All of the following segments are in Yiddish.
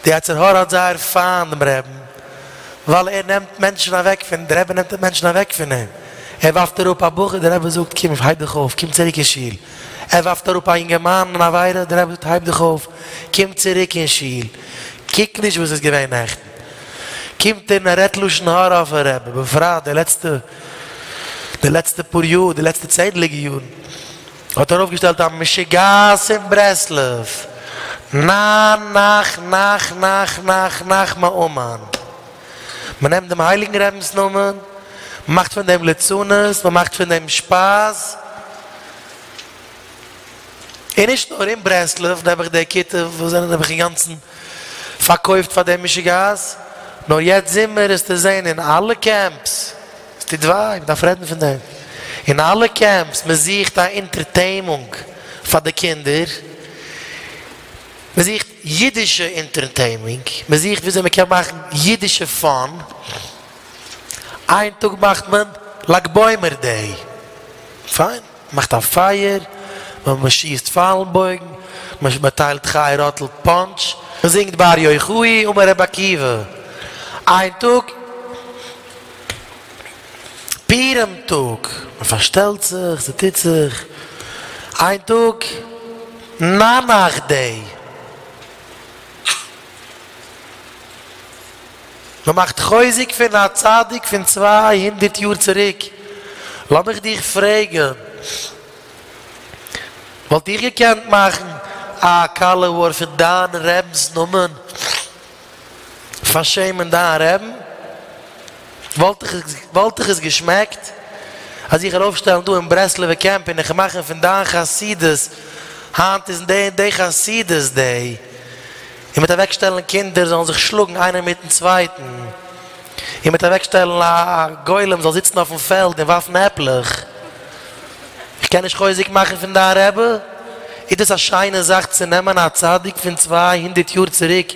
די יצר הרע האט זייער פיינט דעם רעבען ווייל ער נעמט מענטשען אוועק פון, די רעבען נעמט מענטשען אוועק פון אים, ער ווארפט אראפ א בחור, די רעבען זאגט קום איך הייב דיך אויף, קום צוריק אין שול, ער ווארפט אראפ א יונגערמאן אין עבירה, די רעבען זאגט הייב דיך אויף, קום צוריק אין שול, קוק נישט וואס איז געווען נעכטען, קומט ער און ער רעדט לשון הרע אויפן רעבען, בפרט די לעצטע, די לעצטע פאר יאר, די לעצטע צענדליגע יארן. האט ארויפגעשטעלט א משוגעת אין ברסלב, ניין נח נח נח נח נח מאומן, מען נעמט דעם הייליגן רבינ'ס נאמען, מען מאכט פון דעם ליצנות, מען מאכט פון דעם שפאס, און נישט נאר אין ברסלב, נעבעך די כיתה וואס זענען נעבעך אינגאנצן פארקויפט פאר דעם משוגעת, נאר יעצט זומער איז צו זען אין אלע קעמפס. עס טוט וויי, מען דארף רעדן פון דעם. אין אלע קעמפס, מען זוכט א אינטערטעימונג פאר די קינדער, מען זוכט אידישע אינטערטעימונג, מען זוכט וויאזוי מען קען מאכן אידישע פאן, איין טאג מאכט מען לג בעומר דעי, פיין. מ'מאכט א פייער, מ'שיסט פיילן בויגן, מ'טיילט חי ראטל פאנטש, מ'זינגט בר יוחאי און בר רבי עקיבא. איין טאג פורים טאג, מ'פארשטעלט זיך, ס'טוט זיך. איין טאג נאנאכדעם. מען מאכט חוזק פון א צדיק פון צוויי הונדערט יאר צוריק, לאמיך דיך פרעגן, וואלט איך געקענט מאכן א קאלעוואר פון דיין רבינ'ס נאמען פארשעמען דיין רבין? וואלט דיך עס געשמעקט אז איך ארויפשטעלן דא אין ברסלב'ע קעמפ און איך מאכן פון דיין חסידות היינט איז די און די חסידות די? און מיט אוועקשטעלן קינדער זאלן זיך שלאגן איינער מיטן צווייטן, און מיט אוועקשטעלן א גולם זאל זיצן אויפן פעלד און ווארפן עפלעך. איך קען נישט חוזק מאכן פון דיין רבי? איז דאס א שיינע זאך צו נעמען א צדיק פון צוויי הונדערט יאר צוריק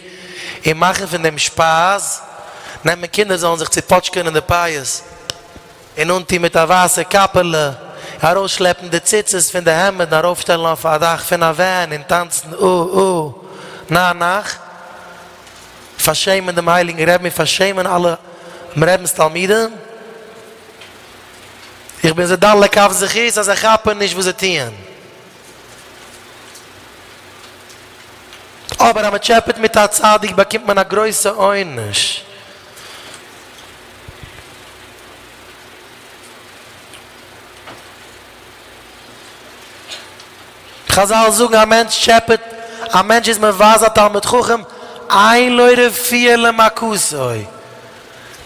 און מאכן פון דעם שפייז? נעמען קינדער זאלן זיך צופאטשקען אין די פייעס? און אנטון מיט א ווייסע קאפעלע, ארויסשלעפן די ציצית פון די העמד און ארויפשטעלן אויף א דאך פון א ווען און טאנצן או או נא נאך פארשעמען דעם הייליגן רעבן און פארשעמען אלע רעבנס תלמידים. איך בין זיי דן לכף זכות אז זיי כאפן נישט וואס זיי טוען. אבער אז מען טשעפעט מיט א צדיק באקומט מען א גרויסע עונש. חזל זאגן א מענטש טשעפעט, א מענטש איז מבזה א תלמיד חכם, אין לו רפואה למכתו,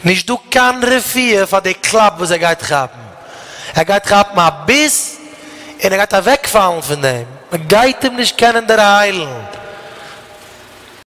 נישט דא קיין רפואה פאר די קלאפ וואס ער גייט כאפן, ער גייט כאפן א ביס און ער גייט אוועקפאלן פון דעם, מען גייט אים נישט קענען דערהיילן.